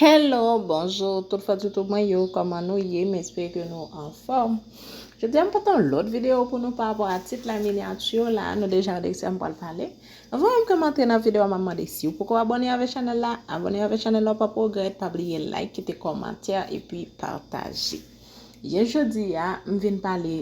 Hello bonjour tout fans YouTube mwen yo koman nou ye m espere ke nou anfòm Jodi a m pote yon lòt video pou nou pa rapò a tit la miniature la nou deja wè de kisa m pral pale Anvan menm ke m antre nan video a map mande si ou poko abòne avè chanèl la abòne avè chanèl la ou pap regrèt pa bliye like kite kòmantè epi pataje Yen jodi a m vin pale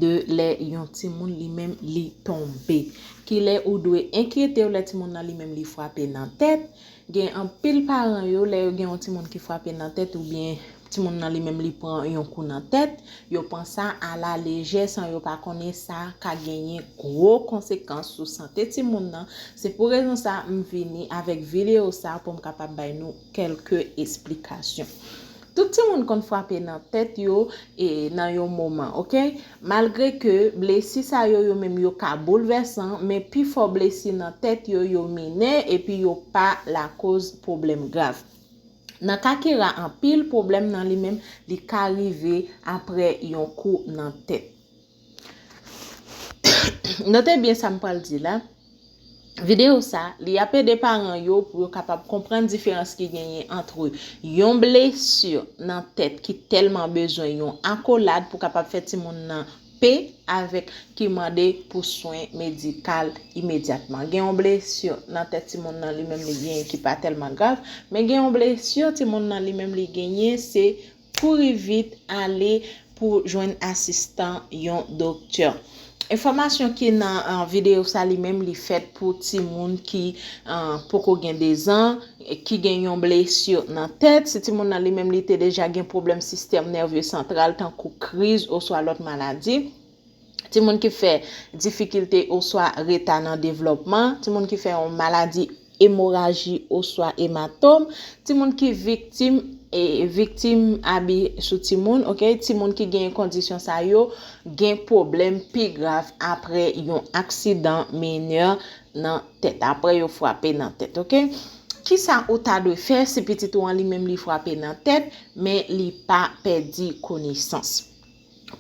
de lè yon timoun li menm li tonbe. Kilè ou dwe enkyete w lè timoun nan li menm li frape nan tèt. Gen anpil paran yo lè yo gen yon timoun ki frape nan tèt oubyen timoun nan li menm li pran yon kou nan tèt, yo pran sa a la lejè san yo pa konnen sa ka genyen gwo konsekans sou sante timoun nan. Se pou rezon sa m vini avèk videyo sa pou m kapab bay nou kèlke esplikasyon. Tout timoun konn frape nan tèt yo e nan yon moman ok malgre ke blesi sa yo yo menm yo ka boulvèsan men pi fò blesi nan tèt yo yo minè epi yo pa lakoz pwoblèm grav. Nan ka ki ra anpil pwoblèm nan li menm li ka rive aprè yon kou nan tèt. Note byen sa m pral di la, videyo sa, li ap ede paran yo pou yo kapab konprann diferans ki genyen antre yon blesi nan tèt ki tèlman bezwen yon akolad pou kapab fè timoun nan pe avèk ki mande pou swen medikal imedyatman. Gen yon blesi nan tèt timoun nan li menm li genyen ki pa tèlman grav, men gen yon blesi timoun nan li menm li genyen se. Kouri vit ale pou jwenn asistan yon doktè. Enfòmasyon ki nan videyo sa li menm li fèt pou timoun ki poko gen 2 zan, ki gen yon blesi nan tèt, si timoun nan li menm li te deja gen pwoblèm sistèm nève santral tankou kriz oswa lòt maladi. timoun ki fè difikilte oswa reta nan devlòpman, timoun ki fè yon maladi emoraji oswa ematom, timoun ki viktim viktim abi sou timoun, ok, timoun ki gen kondisyon sa yo gen pwoblèm pi grav apre yon aksidan minè nan tèt, apre yo frape nan tèt, ok. Kisa ou ta dwe fè si pitit ou an li menm li frape nan tèt men li pa pèdi konesans?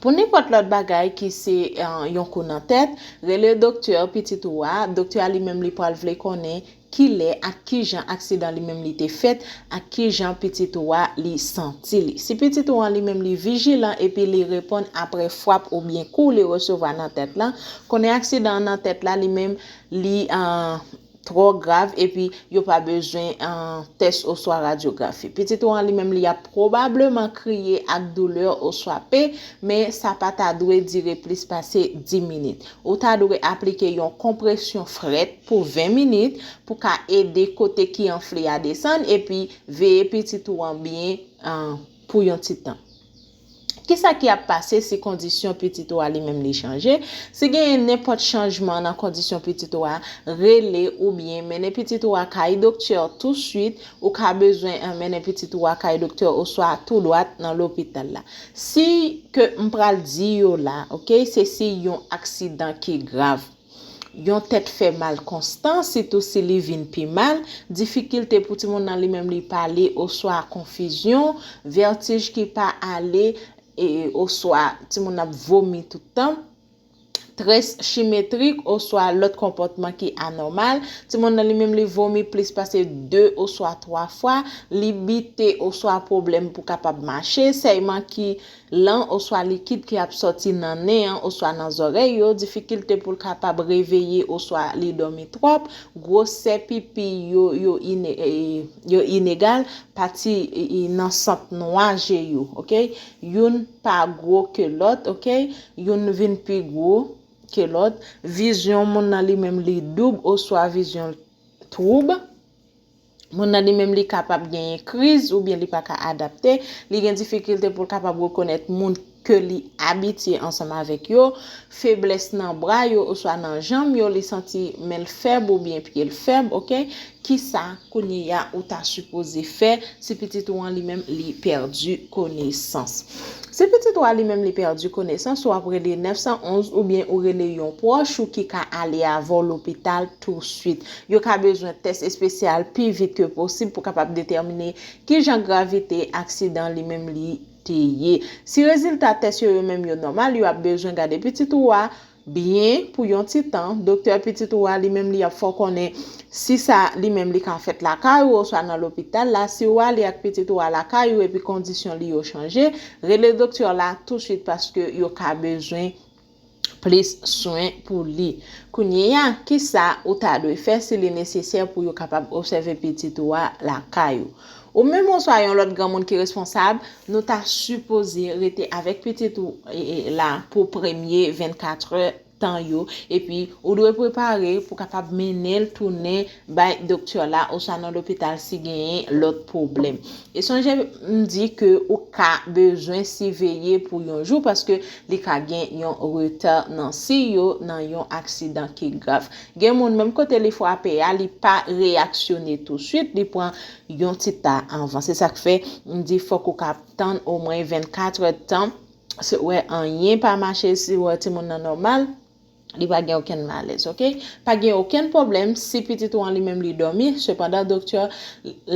Pou nenpòt lòt bagay ki se yon kou nan tèt, rele doktè pitit ou a, doktè a li menm li pral vle konnen kilè ak kijan aksidan li menm li te fèt ak kijan pitit ou a li santi li. Si pitit ou an li menm li vijilan epi li reponn aprè fwap oubyen kou li resevwa nan tèt lan, konnen aksidan an nan tèt la li menm li twò grav epi yo pa bezwen tès oswa radyografi. Pitit ou an li menm li ap pwobableman kriye ak doulè oswa pen, men sa pa ta dwe dire plis pase 10 minit. Ou ta dwe aplike yon konpresyon frèt pou 20 minit pou ka ede kote ki anfle a desann epi veye pitit ou an byen pou yon ti tan. Kisa ki ap pase si kondisyon pitit ou a li menm li chanje? Si genyen nenpòt chanjman nan kondisyon pitit ou a, rele oubyen mennen pitit ou a kay doktè touswit, ou ka bezwen mennen pitit ou a kay doktè oswa tou dwat nan lopital la. Siy ke m pral di yo la, ok, se siy yon aksidan ki grav. Yon tèt fè mal konstan, sitou si li vin pi mal, difikilte pou timoun nan li menm li pale oswa konfizyon, vètij ki pa ale oswa timoun nan ap vomi tout tan, tres chimetrik oswa lòt konpòtman ki anòmal, timoun nan li menm li vomi plis pase 2 oswa 3 fwa, li bite oswa pwoblèm pou kapab mache, sèyman ki. lan oswa likid ki ap sòti nan nen an oswa nan zòrèy yo, difikilte pou l kapab reveye oswa li dòmi twòp, gwosè pipi yo yo inegal, pati nan sant nwa je yo ok youn pa gwo ke lòt ok youn vin pi gwo ke lòt, vizyon moun nan li menm li doub oswa vizyon l twoub. Moun nan li menm li kapab genyen kriz oubyen li pa ka adapte, li gen difikilte pou l kapab rekonèt moun ke li abitye ansanm avèk yo, feblès nan bra yo oswa nan janm yo, li santi men l fèb oubyen pye l fèb ok, kisa kounyeya ou ta sipoze fè si pitit ou an li menm li pèdi konesans? Si pitit ou a li menm li pèdi konesans ou ap rele 911 oubyen ou rele yon pwòch ou ki ka ale avè w lopital touswit. Yo ka bezwen tès espesyal pi vit ke posib pou kapab detèmine ki jan gravite aksidan li menm li te ye. Si rezilta tès yo yo menm yo nòmal, yo ap bezwen gade pitit ou a byen pou yon ti tan. Doktè pitit ou a li menm li ap fè w konnen si sa li menm li ka fèt lakay ou oswa nan lopital la. Si ou ale ak pitit ou a lakay ou epi kondisyon li yo chanje, rele doktè w la touswit paske yo ka bezwen plis swen pou li. Kounyeya, kisa ou ta dwe fè si li nesesè pou yo kapab obsève pitit ou a lakay ou? Ou menm oswa yon lòt granmoun ki responsab, nou ta sipoze rete avèk pitit ou la pou premye 24 è tan yo, epi ou dwe prepare pou kapab mennen l tounen bay doktè la oswa nan lopital si genyen lòt pwoblèm. E sonje m di ke ou ka bezwen siveye pou yon jou paske li ka gen yon reta nan siy yo nan yon aksidan ki grav. Gen moun menm kote li frape a li pa reyaksyone tousuit, li pran yon ti ta anvan. Se sa k fè m di fòk ou ka tann omwen 24 èdtan si w wè anyen pa mache, si w wè timoun nan nòmal, Li pa gen okenn malèz ok. Pa gen okenn pwoblèm si pitit ou an li menm li dòmi, sepandan doktè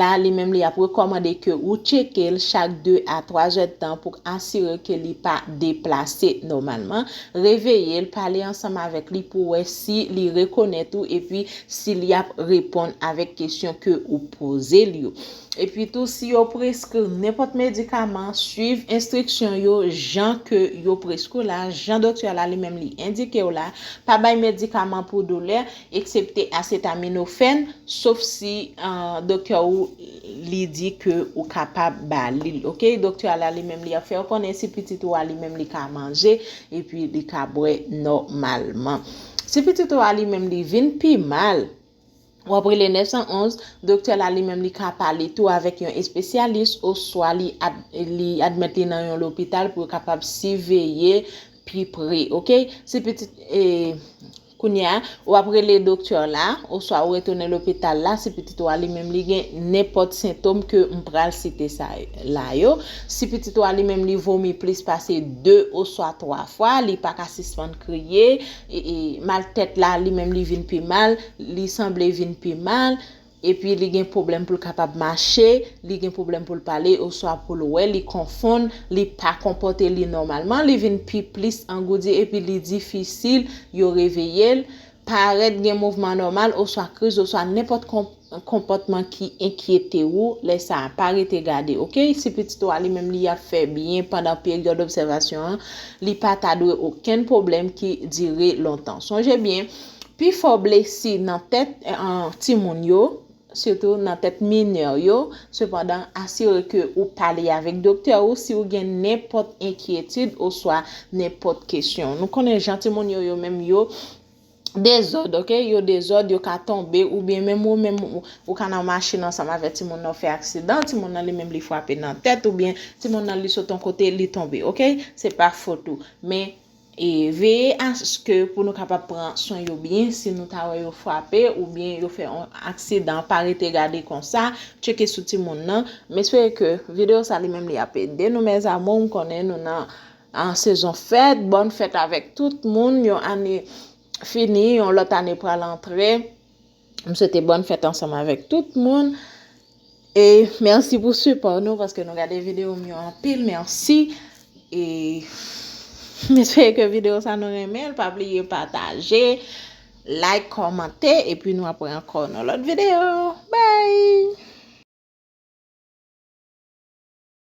la li menm li ap rekòmande ke ou tcheke l chak 2 a 3 zèdtan pou k asire ke li pa deplase nòmalman, reveye l, pale ansanm avèk li pou wè si li rekonèt ou epi si li ap reponn avèk kesyon ke ou poze l yo. Epitou si yo preskri w nenpòt medikaman, swiv enstriksyon yo jan ke yo preskri w la, jan doktè w la li menm li endike w la. Pa bay medikaman pou doulè, eksepte asetaminofèn, sof si doktè ou li di ke ou kapab ba li l. Ok, doktè w la li menm li ap fè w konnen si pitit ou a li menm li ka manje epi li ka bwè nòmalman. Si pitit ou a li menm li vin pi mal, W ap rele 911, doktè la li menm li ka pale tou avèk yon espesyalis oswa li admèt li nan yon lopital pou yo kapab siveye pi pre, ok? Si pitit, e, kounye a, w ap rele doktè la oswa ou retounen lopital la si pitit ou a li menm li gen nenpòt sentom ke m pral site sa la yo. Si pitit ou a li menm li vomi plis pase 2 oswa 3 fwa, li pa ka sispann kriye, Mal tèt la li menm li vin pi mal, li sanble vin pi mal, epi li gen pwoblèm pou l kapab mache, li gen pwoblèm pou l pale oswa pou l wè, li konfonn, li pa konpòte li nòmalman, li vin pi plis angoudi epi li difisil yo reveye l, parèt gen mouvman anòmal oswa kriz oswa nenpòt konpòtman. Yon konpòtman ki enkyete ou, lè sa a, pa rete gade, ok? Si pitit ou a li menm li ap fè byen pandan peryòd obsèvasyon an, li pa ta dwe okenn pwoblèm ki dire lontan. Sonje byen, pi fò blesi nan tèt timoun yo, sitou nan tèt minè yo, sepandan, asire ke ou pale avèk doktè ou si ou gen nenpòt enkyetid oswa nenpòt kesyon. Nou konnen jan timoun yo yo menm yo. Dezòd ok, yo dezòd, yo ka tonbe oubyen menm ou menm ou ka nan machin ansanm avè timoun nan ou fè aksidan, timoun nan li menm li fwape nan tèt oubyen timoun nan li sot yon kote li tonbe ok, se pa fot ou men e veye aske pou nou kapab pran swen yo byen si nou ta wè yo fwape oubyen yo fè yon aksidan pa rete gade konsa tcheke sou timoun nan, m espere ke videyo sa li menm li ap ede nou mes amour m konnen nou nan. An sezon fèt, bòn fèt avèk tout moun, yon ane fini, yon lòt ane pral antre, m swete bòn fèt ansanm avèk tout moun, e mèsi pou sipò nou paske nou gade video m yo anpil, mèsi, e m espere ke video sa nou renmen l, pa bliye pataje, like, kòmante, e pi nou ap wè ankò nan lòt video, bye!